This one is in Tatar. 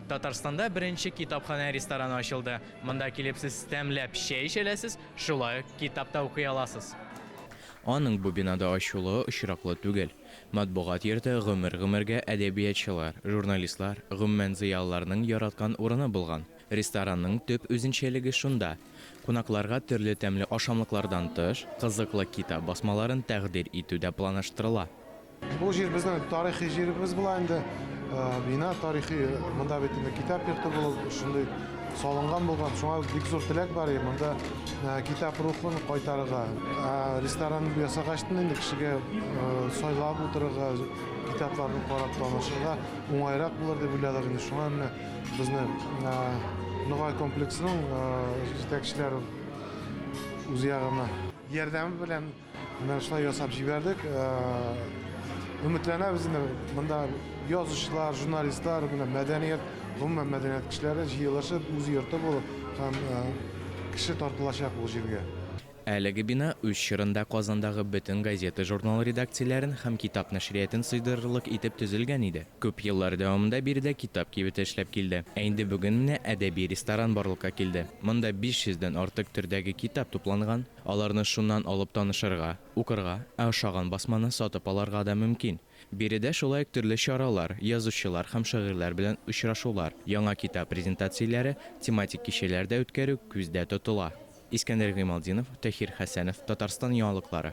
Татарстанда беренче китапханә-рестораны ачылды. Монда килеп сез тәмләп чәй эчә аласыз, шулай ук китап та укый аласыз. Аның бу бинада ачылуы очраклы түгел. Матбугат йорты гомер-гомергә әдәбиятчылар, журналистлар, гомумән зыялыларның яраткан урыны булган. Ресторанның төп үзенчәлеге шунда, кунакларга төрле тәмле ашамлыклардан тыш, кызыклы китап басмаларын тәкъдир итү дә планаштырыла. Бу җир безнең тарихи җиребез була инде. Бина тарихи, монда бит инде китап йорты булып, шундый салынган булган. Шуңа бик зур теләк бар, монда китап рухын кайтарырга. Ресторан ясагач та инде кешегә сайлап утырырга, китапларны карап танышырга уңайрак булыр дип уйладык инде. Шуңа менә безне Ногай комплексының җитәкчеләре үз ягына ярдәме белән Менә шулай ясап җибәрдек. Өметләнәбез инде монда язучылар, журналистлар, менә мәдәният, гомумән мәдәният кешеләре җыелышып, үз йорты булып һәм кеше тартылачак бу җиргә. Әлеге бина үз чорында Казандагы бөтен газета-журнал редакцияләрен һәм китап нәшриятын сыйдырырлык итеп төзелгән иде. Күп еллар дәвамында биредә китап кибете эшләп килде. Ә инде бүген менә әдәби ресторан барлыкка килде. Монда 500 дән артык төрдәге китап тупланган. Аларны шуннан алып танышырга, укырга, ә ошаган басманы сатып алырга да мөмкин. Биредә шулай ук төрле чаралар, язучылар һәм шагыйрьләр белән очрашулар, яңа китап презентацияләре, тематик кичәләр дә үткәрү күздә тотыла. Искәндәр Гыймалтдинов, Тәһир Хәсәнов, Татарстан яңалыклары.